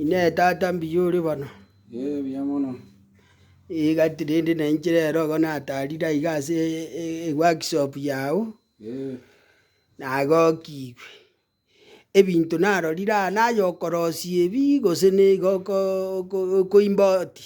Inee tata mbuya ore bono? Ee buya mono. Egati rende nainche rero igo natarire aiga ase eworkshop yago, nagokigwe. Ebinto narorire aa naye okorosia ebi gose nigo oko okoimba oti?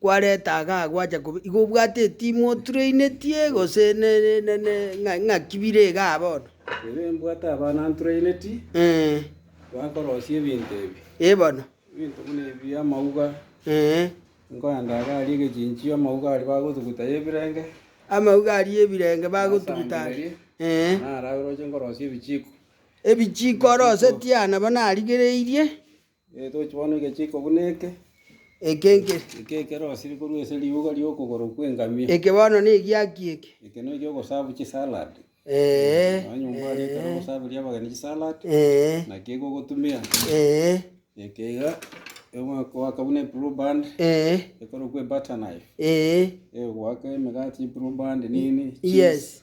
kwareta iga gwacha kobi, igo obwate etimu oturainetie gose ng'aki bire igaa bono? Inee mbwate abana nturainetie bakorosia ebinto ebi? Ee bono. Ebinto buna ebi amauga, nkoenda iga aria egechinchio amauga aria bagotuguta ya ebirenge. Amauga aria ya ebirenge bagotuguta aria. Naro agere oche nkorosie ebichiko. Ebichiko orosetie aa nabo narigereirie. Toche bono egechiko buna eke. Eke nke. Eke ekero osiri korwa ase riuga ri'okogoro kw'engamia. Eke bono negiaki eke. Eke no ekiogosabu chisalad. Ee. Nonya omwari ekero ogosaberia abageni chisalad. Ee. Naki eke ogotumia. Ee. Eke iga egoaka buna eblue band. Ee. Ekorokwa ebutter knife. Ee. Egoaka emegati eblue band nini. Yes.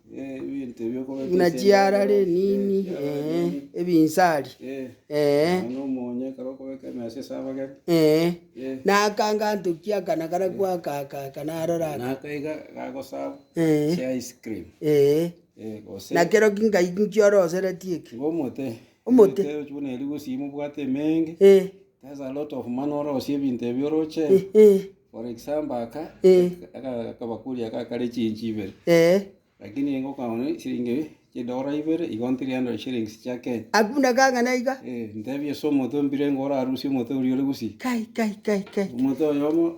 buna chiara renini, eh, ebinsari, eh, eh, na aka ngantokia aka na karia gwaka aka aka narora aka, eh, eh, na kero ki ngai nkioroseretie eki. Omote. Omote ochi buna erio gose imo obwate emeenge, Eh, there's a lot of mana orosie ebinto ebi oroche. eh, eh, For example aka, Eh. aka akabakuri aka kare echinchi ibere. eh. Lakini engo okagora esiringi chidora ibere, igo 300 shillings chia Kenya. Abwo buna kang'ana iga. Eh, ntebie ase omote ombire engo orarusie omote oria ore gusii. Kai, kai, kai, kai. Omote oyomo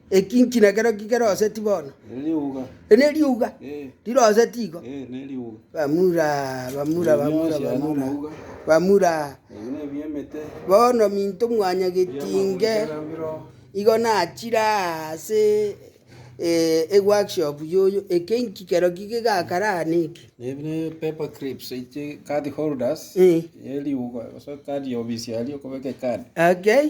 Eki nki nekero ki keroseti bono? Eri neriuga riroseti igo. Bamura, bamura, bamura, bamura, bamura. Bono minto mwanya getinge igo nachire aase eh, eworkshop yoyo. Eke nki kero ki kegakare aa neki? Ebi ne paper clips echi card holders Eh. eriuga gose card ya obisiaria okobeka ecard Okay.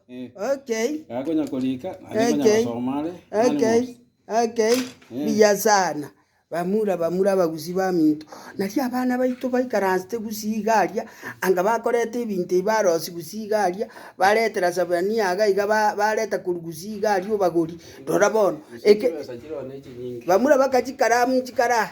Mbuya sana. Bamura bamura abagusi baminto. Nario abana baito baikaransete gusii iga aria, anga bakoreta ebinto ebi barosi gusii iga aria, baretera Zebania iga iga bareta korwa gusii iga aria obagori. Rora bono, eke, bamura bakachikara amo nchikara aa.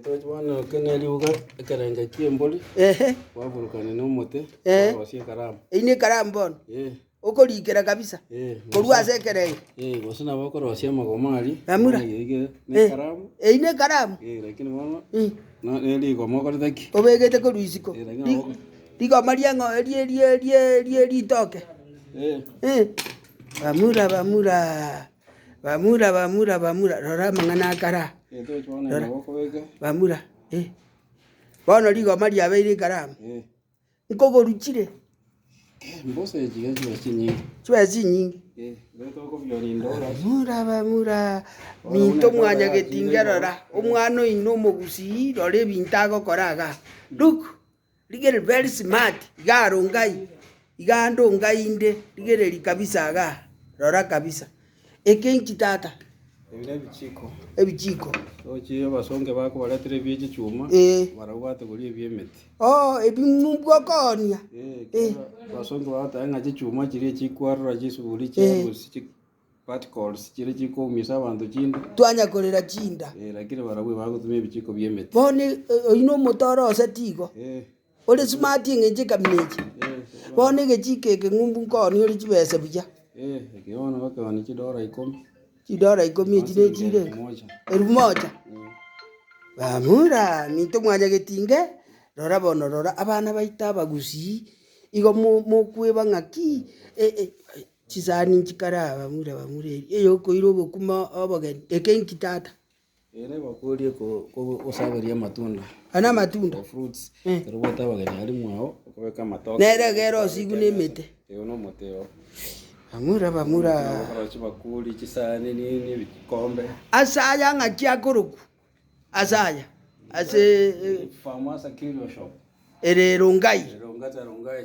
Toche bono eke ne riuga, ekerengo ki'embori, Ehe, kwaburukana nomote, Eh. kwarosia ekaramu. eyio nekaramu bono, Eh, okorikera kabisa, eh, korwa ase ekerengo. eh, gose nabo okorosia amagoma aria. Namura. bono yaige Eh, nekaramu. eyio nekaramu, Eh, lakini bono, Mm. no- ne rigoma okorete ki? obegete korwa isiko, Eh, lakini Ri- nabo- rigoma ria ng'o- rie- rie- rie- rie- ritoke, Eh, Eh, bamura bamura. Bamura, bamura, bamura, rora amang'ana akare aa, rora, bamura, eh. Bono rigoma riabeire ekaramu, nkogoruchire, chibesa chinyinge, bamura, bamura, minto mwanyagetinge rora, omwana oino omogusii, rora ebinto agokora igaa, ruk. Rigereria very smart igaro ngai igando ngai inde rigereria kabisa igaa rora kabisa eke inchi tata Ebi nebichiko ebichiko ochiire abasonge bako baretere ebi echichuma Eh. barabwo bategori ebi emeti oo ebi mubwokonia Eh, kero abasonge bagotae ng'a chichuma chiria chikwarora chisuburi chia Eh. erusi chi- Twanyakorera chinda. Bono oyino omote ore oseti igo, ore smart eng'encho ekamina echi. Bono egechiko eke ng'umbu nkooni ore chibesa buya. Chidora ikomi echi ne chire enga? Elfu moja. Bamura, minto mwanya getinge, rora bono rora abana baito abagusii, igo mo- mokweba ng'aki? Chisani inki kare abamura bamura eria eyokoira obokima obogeni? Eke inki tata? Ere bakorie kogosaberia amatunda. Aya namatunda. Fruits. Eh. Ero bwate abageni ari mwao okobeka amatoke. Nere egere osigwe nemete. Eyo nomote oo. Bamura bamura. Aborochi bakuri chisani nini ebikombe. Ase aya ng'aki akorokwa? Ase aya. Ase. Farmers and Curio Shop. Ere Rongai. Rongai Rongai.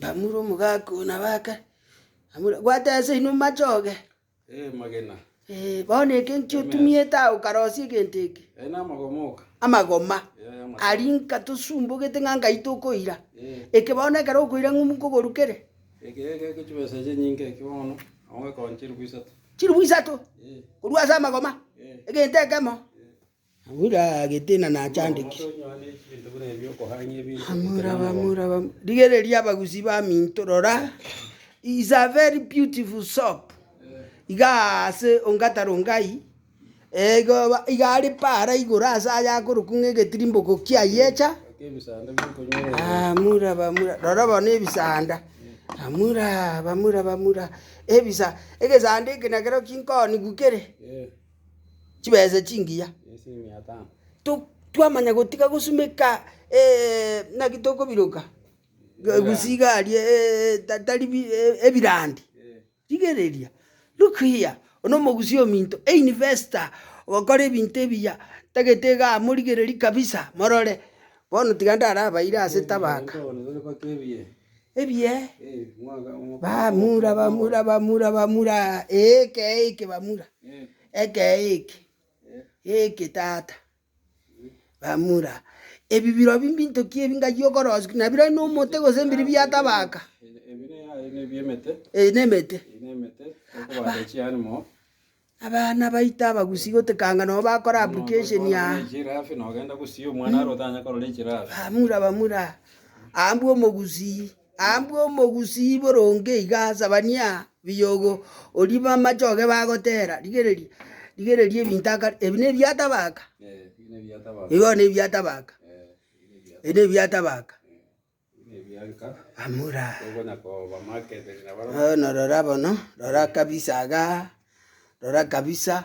Bamura omogaka oyo na baka, bamura, Bwate ase inwe machoge, Eemagena. ee, bono eke nkio otumiete aa okarosia egento eke? Aye namagoma oka. Amagoma. Ee, amagoma. Aria nka tosumbogete ng'a nkai tokoira. Ee. Eke bono ekero okoira ng'umbu nkoborukere? Eke egeke chibesa chinyinge eke bono, agokekoonia chilifu isato. Chilifu isato? Ee. Korwa ase amagoma? Ee. Egento ekemo? Rigereria abagusii baminto, rora, is a very beautiful shop, iga aase ongata Rongai, iga are paara igoro aase aye akorokwa ng'a egetirimboko kia Yecha, rora bono ebisanda, ebisa, egesanda eke nakero kinkonigwa kere. chibesa chingiya. To twamanya gotiga gosumeka naki tokobiroka egusi iga aria ta tari bi ebirandi, rigereria, look here, oyo nomogusi ominto, e investor, ogokora ebinto ebiya, tagete igaa morigereri kabisa morore, bono tiga ndarabaire ase tabaka. Ebiee, bamura, bamura, bamura, bamura, ee ekee eke bamura, ekee eke, eke tata, bamura, ebi birobio mbintoki ebi ngayia okorosikia, na birobio na omote gose mbiri biatabaka, ebi ne emete, ebi ne emete, aba. Abana baito abagusi gotekanga nobo bakora application aa. Bamura bamura aa mbwa omogusi aa mbwa omogusi boronge iga sabania biyogo orie bamachoge bagotera rigereria rigereria ebinto akare ebi ne ebiatabaka igo ne ebiatabaka ebi ne ebiatabaka. Amura. Bono rora bono, rora kabisa iga, rora kabisa,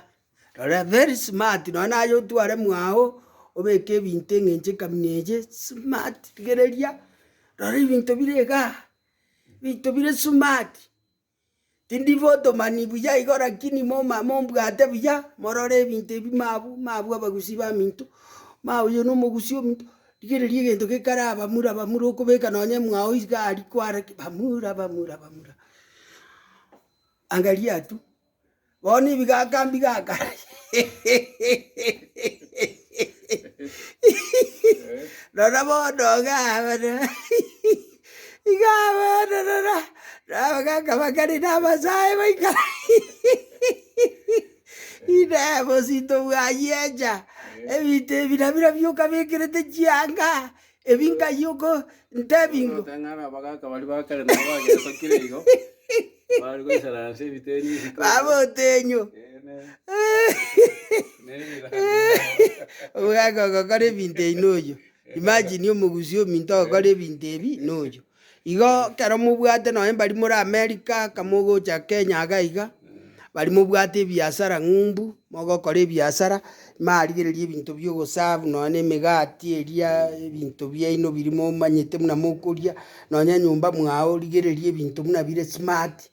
rora very smart nonye naye otware mwago, obeke ebinto eng'encho ekamina eye, smart rigereria, rora ebinto bire igaa, ebinto bire smart. Tindi botomani buya igo rakini moma mombwate buya, morore ebinto ebi mabu mabu abagusii baminto, ma oyo na omogusii ominto, rigereria egento gekare abamura bamura okobeka nonye mwao iga aria kware ki bamura bamura bamura, angaria tu. Bono ebigaka mbigaka, rora bono iga abana iga abana rora abagaka bakare na abasae baikare Inee, bosinto bwa Yecha, ebinto ebi nabira bioka bekerete chianga, Ebi nkai okondebingo. Orote ng'a ara abagaaka baria ba kare nabo bagesokire igo, bare goisaransa ase ebiteni ebi bikoka. Baba otenyo. Omogaka ogokora ebinto ebi noyo. Imagine omogusii ominto ogokora ebinto ebi noyo. Igo kero mobwate nonya mbari more America kamogocha Kenya iga iga bari mobwate ebiasara ng'umbu mogokora ebiasara marigereria ebinto bia ogoserve nonya na emegati eria ebinto biaino biri momanyete buna mokoria nonya nyomba mwao rigereria ebinto buna bire smart.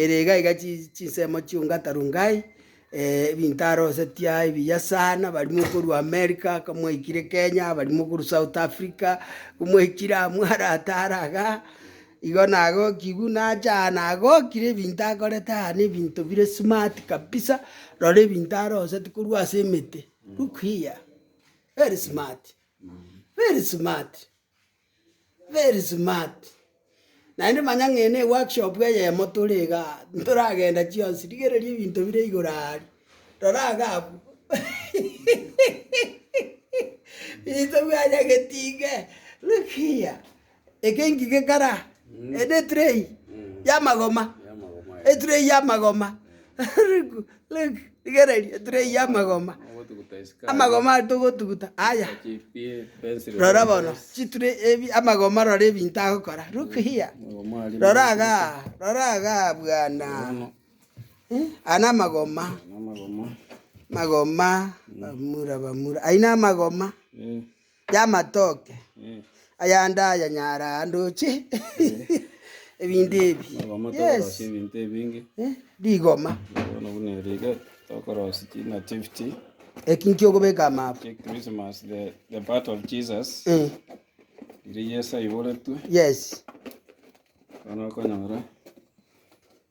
Ere igaiga chinsemo chi'ongata Rongai, ebinto arosetia ebiya sana, abarimo okorwa America akamwaikire Kenya, abarimo okorwa South Africa, omwaikire aa mwaratare iga, igo nagokigwe nacha aa nagokire ebinto akorete aa na ebinto bire smart kabisa, rora ebinto aroseti korwa ase emete, look here, very smart, very smart. Very smart, naende manya ng'ina eworkshop eyemo tore iga ntoragenda chionsi, rigereria ebinto bire igoro aaria, rora iga abwo intwe bwanya getinge, look here, eke inki gekara? Ende etray yamagoma, etray yamagoma. Rigereria, etureyi y'amagoma, amagoma aria togotuguta aya, rora bono, chiture ebi amagoma rora ebinto agokora, look here, rora igaa, rora igaa bwana, eh, aya namagoma, magoma, bamura, bamura, ayio namagoma. y'amatoke ayande aya nyara ndoche ebinto ebi. Yes. ebinto ebinge Eh, Rigoma. bono buna eri iga tokorosia chinativity Eki nkiokobeka amaabu. kia christmas the, the birth of jesus Eh, riria yesu aiboretwe Yes. bono okonyora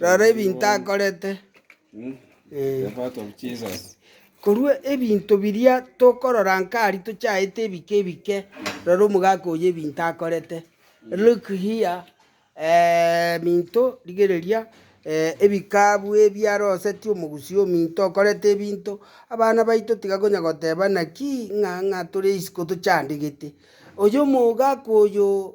Rora ebinto akorete. Korwa ebinto biria tokorora nkari tochaete ebike ebike, rora omogaka oyo ebinto akorete. Look here eminto rigereria ebikabu ebi arosetie omogusii ominto okorete ebinto. Abana baito tiga konya goteba naki ng'a ng'a tore isiko tochandegete. Oyo omogaka oyo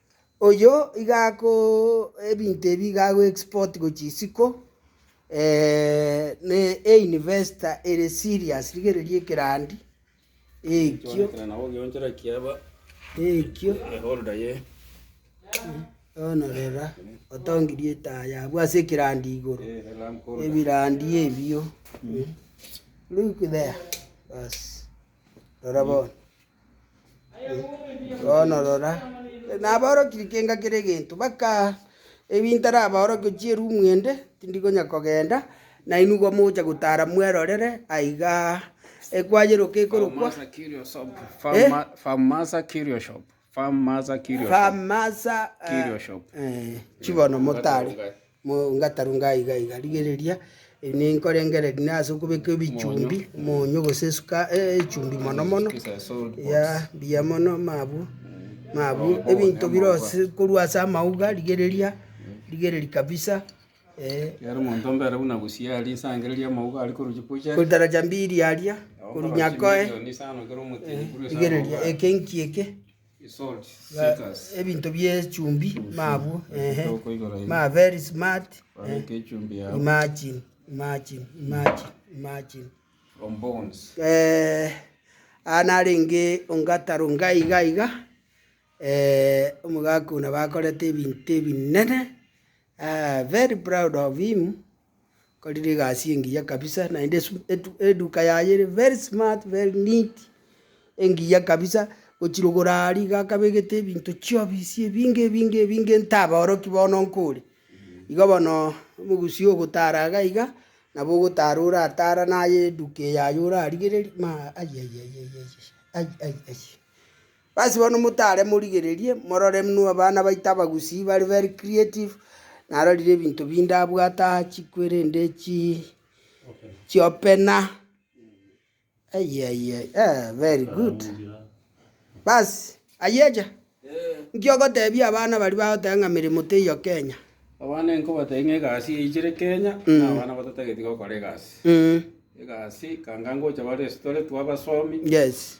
Oyio iga ako ebinto ebi iga ago export gochia isiko ne e investor ere serious rigereria ekerandi ekio ekio bono rora otongirie etaya abwo ase ekerandi igoro ebirandi ebio look there bas rora bono. Bono rora, nabaorokirie kenga kera egento, baka ebi ntarabaorokia chierumu ende, tindi konya kogenda, nainwe igo mogocha gotara mwerorere aiga ekwayeroka ekorokwa Farmaza Curio Shop, eh, chibono motare. Mogatarunga iga iga, rigereria, ninkorengereria na ase okobeka ebichumbi, omonyo gose esuka echumbi mono mono, eyaa mbuya mono mabwo, mabwo ebinto bire ase korwa ase amauga rigereria, rigereria kabisa eh. Ekero omonto mbare buna gusii aria inse arangereria amauga aria korwa chikuchere. Kotaraja mbiri aria, korwa nyakoe, eh, rigereria eke nki eke. Ebinto bie chumbi mabwo eeh ma very smart eeh imagine imagine imagine imagine eeh aa narenge ongata ronga iga iga omogaka oyo nabo akorete ebinto ebinene very proud of him. Akorire egasi engiya kabisa naende esu- etu- eduka yaye ere very smart very neat, engiya kabisa, gochirogoro aria iga akabegete ebinto chiobisi ebinge ebinge ebinge ntaboroki bono nkore. Igo bono omogusi ogotara iga iga, nabo ogotara oratara naye eduka eyaye orarigereria maa aiaiaiaiaiai ai ai ai. Basi bono motare morigererie, morore muna abana baito abagusii bare very creative, narorire ebinto binde abwate aa chikwerende chi chiopena ai ai ai eeh very good. Basi ayecha nki ogotebia abana baria bagoteba ng'a meremo teiyo Kenya? Abana nkobatebia ng'a egasi yaichire Kenya, na abana bato tageti gokora egasi. Egasi kanga ngocha ba restaurant twabasomi. Yes.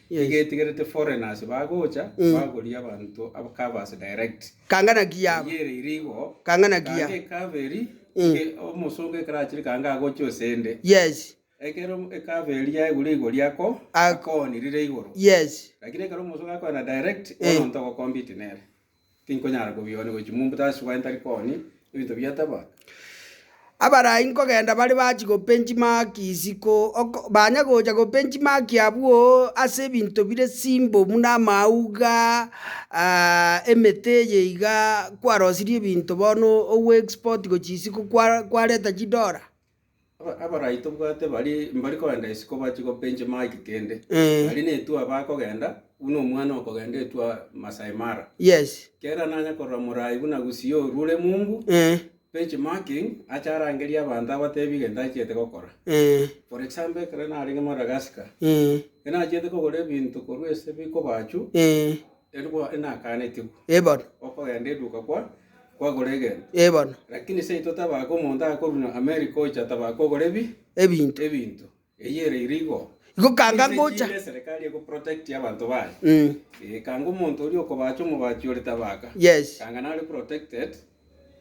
Egetigerete foreigners bagocha bagoria abanto aba covers direct. Kanga naki yaba. Eyere iri igo. Kanga naki yaba. Kanga ecover eri inge omosongo ekero achire kanga agocha osende. Yes. Ekero ecover eri yaigure igori ako akoonirire igoro. Yes. Lakini ekero omosongo akoena direct bono ntogo compete nere. Tinkonyara kobiona gochia mombuto ase chibwani tari kooni, ebinto bia taba. Abarai nkogenda bare bachi gopenchi maki isiko ok banya gocha gopenchi maki abwo ase ebinto bire simbo buna amauga ah emete eye iga kwarosirie ebinto bono ogo export gochia isiko kwa kwareta chidora. Abaraai tobwate baria mbari koenda isiko bache go bench mark kende. Eh. Baria ne tour bakogenda, buna omwana okogenda etour Masai Mara. Yes. Kera nanya korora moraai buna Gusii orwo ore mumbu, Eh. bench marking ache arangerie abanto abatebi egento achiete gokora. Eh. For example ekero narenge Madagascar, Eh. ekero nachiete kogora ebinto korwa ase bikoba achwo, Eh. erigwa inakanetigwe. Eh bono. Okogenda eduka kwa. kwagora egento. Ee bono. Lakini seito tabaaka omonto agakorwa na Amerika ocha tabaaka kogora ebi Ebinto. ebinto. Eyio ere ire igo. Igo kanga Ase ngocha. chinde eserekari ego protect abanto baye. Mm. Ee, kanga omonto oria okobacha omobachi ore tabaaka. Yes. Kanga nare protected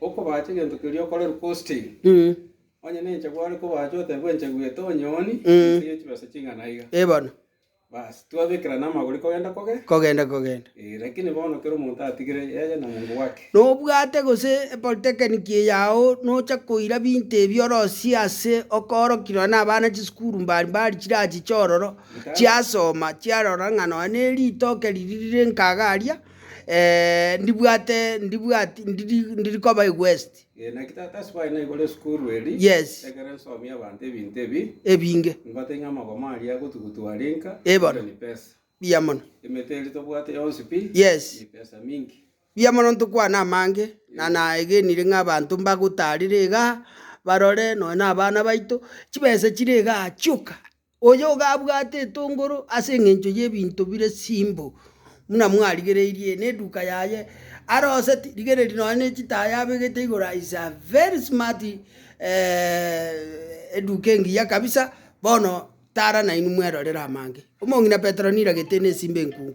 okobacha egento keria okorerwe costing. Mm. Onye nenchagwa are kobacha otebwe enchagwa eto onyoni Mm. ase ye chibesa ching'ana iga. Ee bono. Bas, twabekerana amagori kogenda kogenda. kogenda kogenda. Eh, lakini bono kera omonto atigire yeye na mongo bwake. Nobwate gose epolitekeniki eyao nocha koira binto ebi orosie ase okoorokerwa nabana chisukuru mbari mbari chirachiche ororo chiasoma chiarora ng'a nonya ne ritoke riria rire nkaga aria ndibwate ndibwati ndiri ndiri koba ewest. Ee, naki tata ase baye naigore esukuru eri, Yes. ekero nsomia abanto ebinto ebi, ebinge nimbate ng'a amagoma aria agotugutu are nka Eh, bono. erio ni pesa. buya mono Emete eri tobwate yonsi pi Yes. ni pesa minki. buya mono ntokwana amange na naegenire ng'a abanto mbagotarire igaa barore nonye na abana baito chibesa chire igaa chioka Oyoga abwate etongoro ase engencho y'ebinto bire simbu buna mwarigereirie neduka yaye aroseti rigereri nonya ne chitaya abegete igoro is a very smart eduka engiya kabisa bono tara nainwe mwerorere amange. Omong'ina Petero niragete nesimba enkungu.